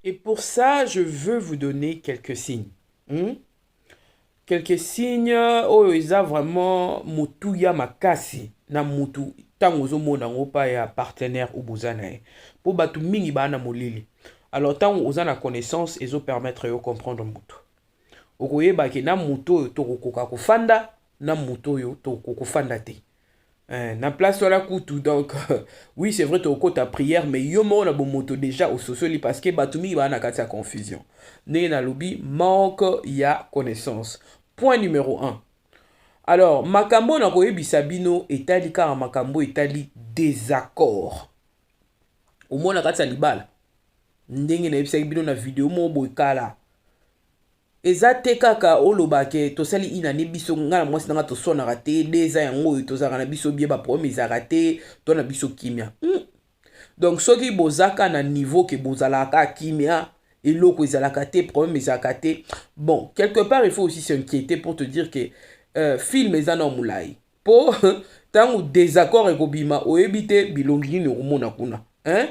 Et pour ça, je veux vous donner quelques signes. Hmm? Quelques signes oyo oh, eza vraiment motuya makasi na mutu ntango ozomona yango pa ya partenaire oyo boza na ye mpo bato mingi baa na molili alors ntango oza na connaissance ezopermettre yo comprendre motu okoyeba ke na motu oyo tokokoka kofanda na motu oyo tokokoka kofanda te Eh, na place wana kutu donc oui c'est vrai tokokota prière mais yo moko na bomoto déjà ososoli parce que bato mingi baa na kati ya confusion ndenge nalobi manque ya connaissance point numéro 1 alors makambo oyo nakoyebisa bino etali kaka makambo etali désaccord omona kati ya libala ndenge nayebisaki bino na video moko boye kala Eza te kaka oloba ke tosali une annee biso nga na mwasi na nga toswanaka te deux ans yango oyo tozalaka na biso bien ba problème ezalaka te to na biso kimia hmm. donc soki bozaka na niveau ke bozalaka kimia eloko ezalaka te problème ezalaka te bon quelque part il faut aussi s'inquiéter pour te dire que euh, film eza na molai po tangu desaccord ekobima oyebi te bilongi nini okomona kuna hein?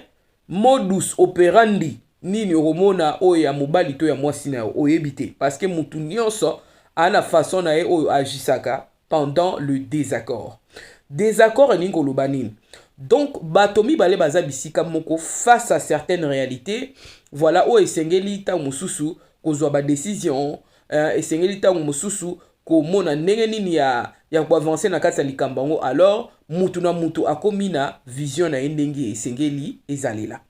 modus operandi nini okomona oyo ya mobali to ya mwasi na yo oyebi te parce que mutu nyonso ana façon na ye oyo agisaka pendant le désaccord désaccord elingi koloba nini donc bato mibale baza bisika moko face à certaines réalités voilà oyo esengeli ntango mosusu kozwa badécision euh, esengeli ntango mosusu komona ndenge nini ya, ya koavanse na kati ya likambo yango, alors mutu na mutu akomi na vision na ye ndenge esengeli ezalela.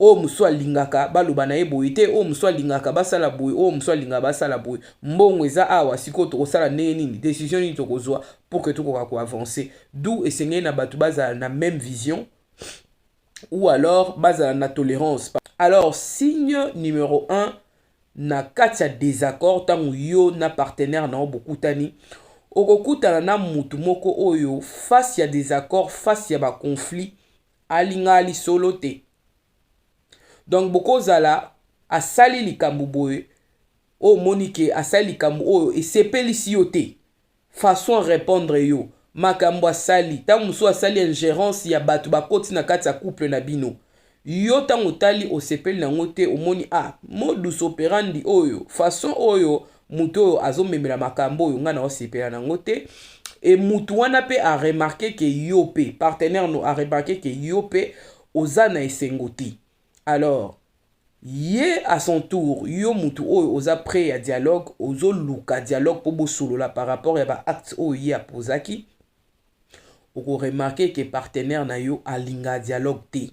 oyo mosusu alingaka baloba na ye boye te oyo mosusu alingaka basala boye oyo mosusu alingaka basala boye mbongo eza awa sikoyo tokosala ndenge nini decision nini tokozwa pour que tokoka koavance d'où esengeli na bato bazala na même vision ou alors bazala na tolérance alors signe numéro 1 Na kati ya desaccord, ntango yo na partenaire na yo bokutani, okokutana na mutu moko oyo face ya desaccord, face ya ba conflits, alingaka lisolo te. Donc bokozala asali likambo boye, oyo omoni que asali likambo oyo esepelisi yo te. façon a repondre yo makambu asali tangu mususu asali ingerence ya batu bakoti na kati ya couple na bino yo tangu otali osepeli na ngo te omoni ah modus operandi oyo façon oyo mutu oyo azo memela makambu oyo nga na osepela na ngo te et mutu wana pe a remarquer que yo pe partenaire no a remarquer que yo pe oza na esengo te Alors ye à son tour yo mutu oyo oza près ya dialogue ozo luka dialogue po bosolola par rapport ya ba actes oyo ye apozaki oko remarquer que partenaire na yo alinga dialogue te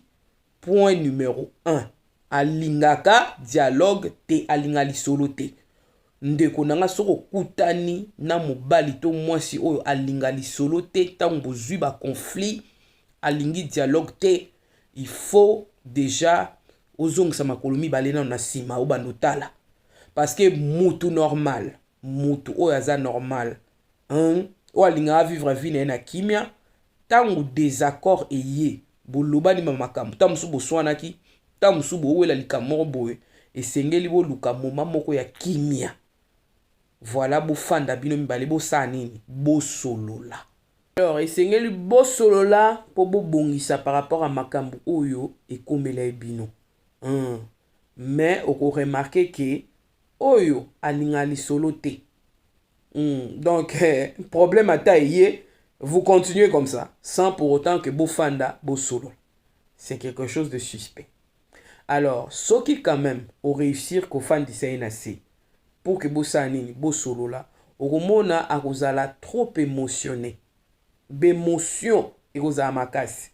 point numero 1 alingaka dialogue te alinga lisolo te ndeko na nga soki okutani na mobali to mwasi oyo alinga lisolo te ntango bozwi ba conflit alingi dialogue te il faut dejà ozongisa makolo mibale nano na nsima obanda otala parce que mutu normal mutu oyo aza normal hein? oyo alingaka vivre vie na ye na kimia ntango désaccord eye bolobani ma makambo ntango mosusu boswanaki ntango mosusu bowela likambo moko boye esengeli boluka moma moko ya kimia voilà bofanda bino mibale bosala nini bosolola Alors esengeli bosolola mpo bobongisa par rapport à makambo oyo ekomela ye bino hum. mais okoremarke ke oyo alinga lisolo te hum. donc eh, problème ata eye vous continuez comme ça sans pour autant que bofanda bosolola c'est quelque chose de suspect alors soki quand meme o reussir kofandisa ye na se pour que bosala nini bosolola okomona akozala trop emotionne b'emotion ekozala makasi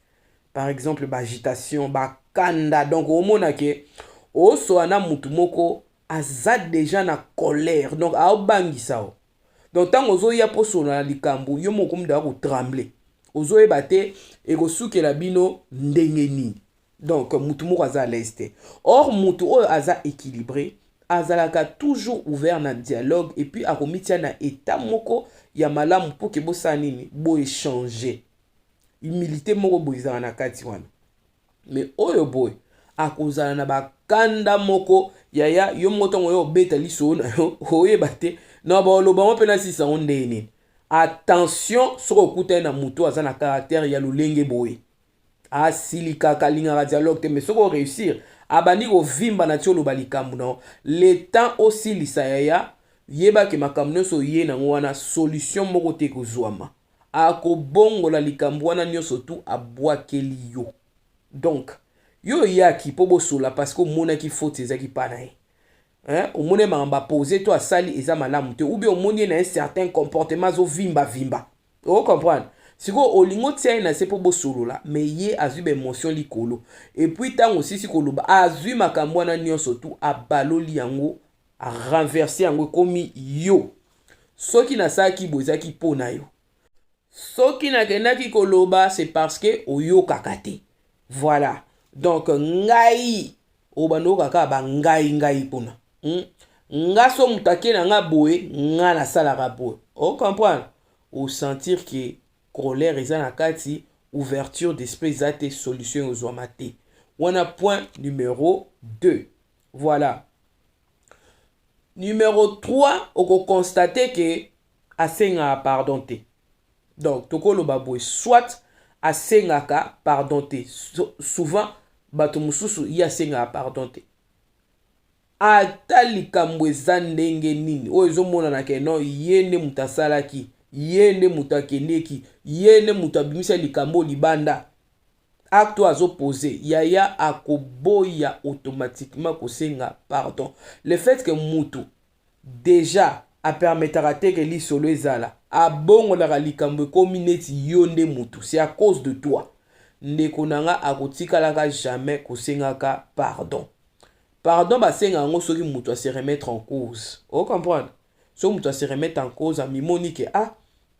par exemple ba agitation ba kanda donc omona ke osoa na mutu moko aza deja na colère donc aobangisa o donc ntango ozoya mpo solola na likambo yo moko okomidaka kotremble ozoyeba te ekosukela bino ndenge nini donc mutu moko aza alaise te or mutu oyo aza équilibré azalaka toujours ouvert na dialogue et puis akomitia na état moko ya malamu mpo ke bosala nini boechange humilité moko boye ezalaka na kati wana mais oyo boye akozala na bakanda moko yaya yo moko ntango yo obeta lisoo na yo oyeba te na baolobama mpe nasisa yango ndenge nini attention soki okutani na moto aza na caractère ya lolenge boye asilikaka alingaka dialogue te mais soki oreusir abandi kovimba na ti oloba likambo na yo le temps osilisa yaya yeba ke makambo nyonso oye nango wana solution moko te ekozwama akobongola likambo wana nyonso tu abwakeli yo donc yo oyaki mpo bosola parce que omonaki faute ezaki mpa na ye hein? omoni ye makambo apose to asali eza malamu te ou bien omoni ye na ye certain comportement azovimba vimba o comprendre sikoyo olingi otia ye na se mpo bosolola me ye azwi baemotion likolo epuis ntango osisi koloba azwi makambo wana nyonso tu abaloli yango arenverse yango ekomi yo soki nasalaki bo ezalaki mpo na yo soki nakendaki koloba c'est parce que oyokaka te voilà donc ngai obanda oyoka kaka bangai ngai kuna hmm? nga so moto ake na nga boye nga nasalaka boye ocomprendre osentir ke colère eza na kati ouverture d'esprit eza te solution ekozwama te wana point numero 2 voilà numero 3 okokonstate ke asengaka pardon te donc tokoloba boye soit asengaka pardon te souvent bato mosusu ye asengaka pardon te ata likambo eza ndenge nini oyo ezomonana ke non ye nde moto asalaki ye nde moto akendeki ye nde moto abimisa likambo libanda acte oyo azopose yaya akoboya automatiquement kosenga pardon le fait ke motu dejà a permetaka te ke lisolo ezala abongolaka likambo ekomi neti yo nde mutu c'est à cause de toi ndeko na nga akotikalaka jamais kosengaka pardon pardon basenga yango soki mutu a se remettre en cause o comprendre soki mutu a se remettre en cause amimoni ke ah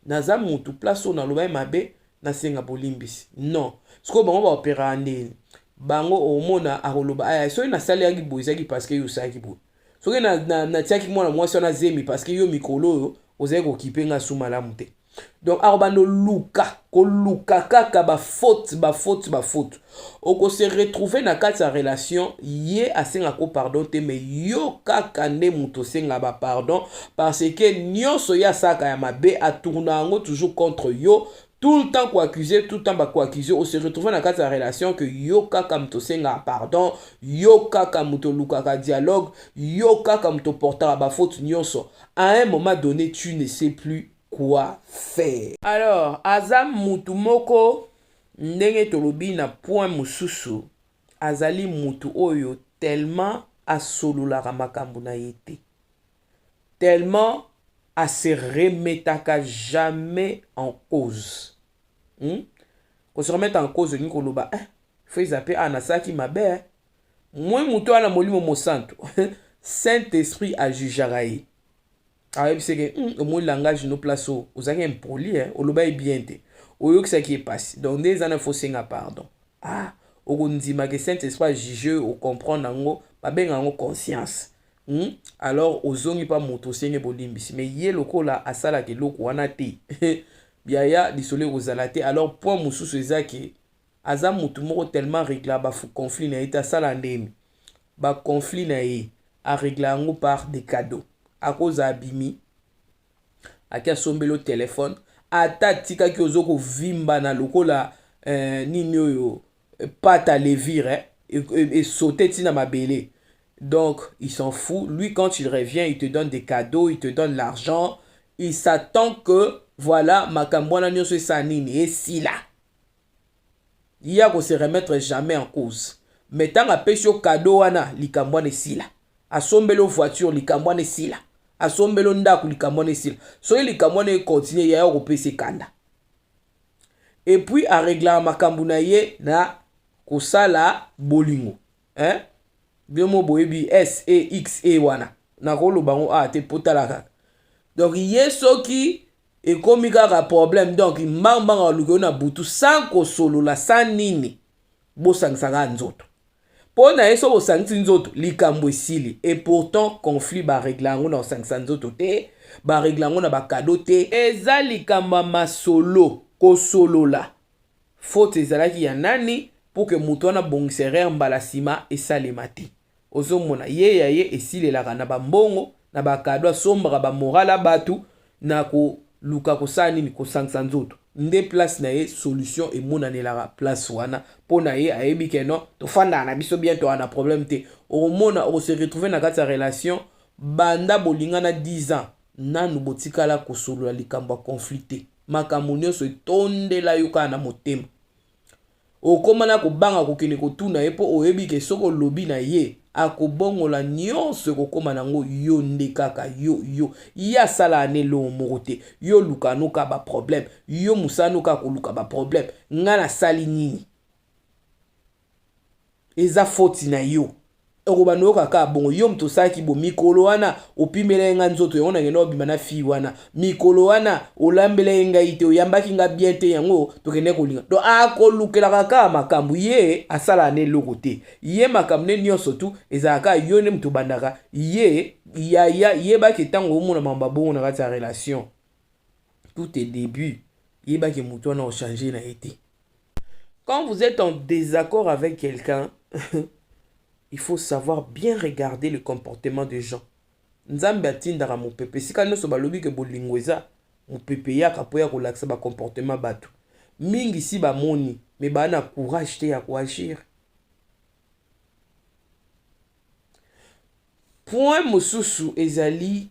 naza mutu place oyo nalobaki mabe nasenga bolimbisi non sikoyo bango baoperaka ndeni bango omona akoloba aya soki nasalelaki boye ezalaki parce que yo osalaki boye soki natiaki mwana mwasi wana zemi parceke yo mikolo oyo ozali kokipe nga su malamu te donc akobanda oluka koluka kaka bafaute bafaute bafaute okose retrouve na kati ya relation ye asengako pardon te mais yo kaka nde moto osenga bapardon parce que nyonso ye asalaka ya mabe atourna yango toujours contre yo Tout le temps ko accuser, tout le temps ba ko accuser, o se retrouver na kati ya relation que yo kaka moto osengaka pardon, yo kaka moto olukaka dialogue, yo kaka moto oportaka ba fautes nionso. A un moment donne tu ne sais plus quoi faire. Alors aza mutu moko ndenge tolobi na point mosusu, azali mutu oyo tellement asololaka makambo na ye te. tellement a se remetaka jamais en cause hmm? ko se remettre en cause olingi koloba eh, feza mpe awa nasalaki mabe eh? moi moto wana molimo mosantu saint esprit ajujaka ye ayebiseke hmm, omoni langage no place oyo ozalaki impoli eh? olobaki bien te oyokisaki ye mpasi donc nde eza na fo senga pardon ah okondima ke saint esprit ajuge oyo ocomprendre yango babenga yango conscience Hmm? alors ozongi mpa moto osenge bolimbisi me ye lokola asalaka eloko wana te yaya lisolo ekozala te alors point mosusu eza ke aza motu moko tellement regla baconflit na ye te asala ndeni baconflit na ye aregla yango par de cadeau akoza abimi ake asombelo telefone ata atikaki ozo kovimbana lokola eh, nini oyo pâte à levure hein? et, et, et sauter tina mabele donc il s'en fout lui quand il revient il te donne des cadeaux il te donne l'argent il s'attend que voilà makambo wana nyonso esala nini esila ye akose remettre jamais en cause mais ntango apesi yo cadeau wana likambo wana esila asombeli yo voiture likambo wana esila asombeli yo ndako likambo wana esila soki likambo wana ekontinue yaya okopesa ekanda epuis areglaka makambu na ye na kosala bolingo hein bino mo boyebi sexe wana nakoloba yango awa te po tala kaka donc ye soki ekomi kaka problème donc mbangu mbangu aluka yo na butu sans kosolola sans nini bosangisaka nzoto Po na ye soki osangisi nzoto likambo esili et pourtant conflit ba regla yango na kosangisa nzoto te, ba regla yango na ba cadeaux te, eza likambo ya masolo, kosolola, faute ezalaki ya nani pour que moto wana abongisa erreur mbala sima esalema te. Ozo mona ye ya ye esilelaka na ba mbongo, na ba cadeaux, asombaka ba morale ya batu Na ko luka ko sala nini? Ko sangisa nzoto nde place na ye, solution e monanelaka place wana po na ye, a yebi ke non to fandaka na biso bien, tozalaka na problème te. Oko mona oko se retrouver na kati ya relation banda bo lingana 10 ans nanu bo tikala ko solola likambo ya conflit te, makambo nionso e tondela yo kaka na motema. Okoma na kobanga kokende kotuna ye mpo oyebi ke soki olobi na ye akobongola nyonso ekokoma nango yo nde kaka yo yo ye asala ana elongo moko te yo oluka ano kaka ba problème yo mosala no kaka koluka ba problème nga nasali nini eza foti na yo okobanda oyoka kaka bongo yo moto osalaki bo mikolo wana opimelaki ngai nzoto yango nakenda obima na fille wana mikolo wana olambelaki ngai te oyambaki ngai bien te yango tokende kolinga donc akolukelaka kaka makambo ye asalaka na eloko te ye makambo nde nyonso tu ezalaka yo nde moto obandaka ye yaya yebaki ntango omona mambo abongo na kati ya relation tout est début yebaki moto wana ochange na ye te Quand vous êtes en désaccord avec quelqu'un, il faut savoir bien regarder le comportement des gens. Nzambe atindaka mopepe esika nyonso balobi ke bolingo eza mopepe eyaka mpo ya kolakisa bacomportement bato mingi si bamoni me baa na courage te ya koagir point mosusu ezali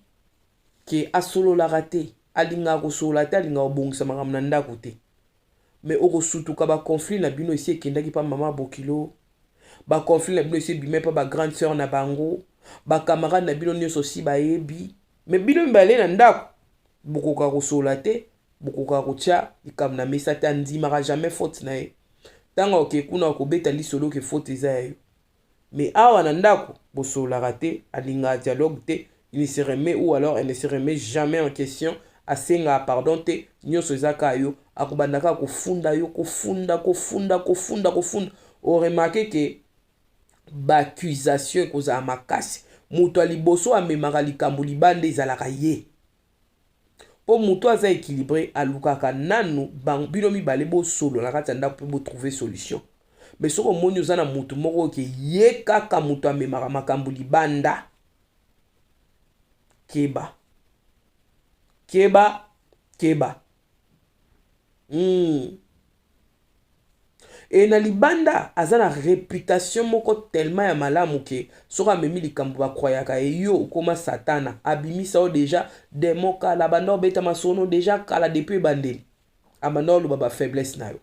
ke asololaka te alingaka kosolola te alingaka kobongisa makambo na ndako te Mais oko sutuka ba conflit na bino esi ekendaki pa maman bokilo ba conflit na bino esi ebimai pa ba grande soeur na bango ba camarade na bino nioso si bayebi mais bino mibale na ndaku bokoka kosola te bokoka kotia likambo na mesa te andimaka jamais faute na ye tango oke kuna okobeta lisolo ke faute eza ya yo Mais awa na ndako bosololaka te, alingaka dialogue te, il ne se remet ou alors elle ne se remet jamais en question, asengaka pardon te, nionso eza kaka yo, akobanda kaka kofunda yo, kofunda, kofunda, kofunda, kofunda, o remarquer que ba accusations ekozala makasi, moto ya liboso amemaka likambo libanda ezalaka ye. po mutu aza equilibre alukaka nanu bino mibale bosolo na kati ya ndaku pe bo trouver solution mais soki omoni oza na mutu moko ke ye kaka mutu amemaka makambo libanda keba keba keba Hmm. Et na libanda aza na reputation moko tellement ya malamu ke soki amemi likambo bakroyaka ye yo okoma satana abimisa yo deja demon kala abanda obeta masono deja kala depuis ebandeli abanda oloba bafaiblesse na yo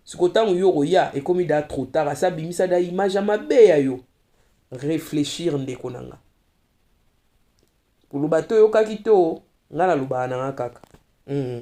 siko ntango yo okoya ekomi da trop tard asi abimisa da image ya mabe ya yo réfléchir ndeko na nga Koloba te oyokaki te o. Nga nalobaka na nga kaka. Hum.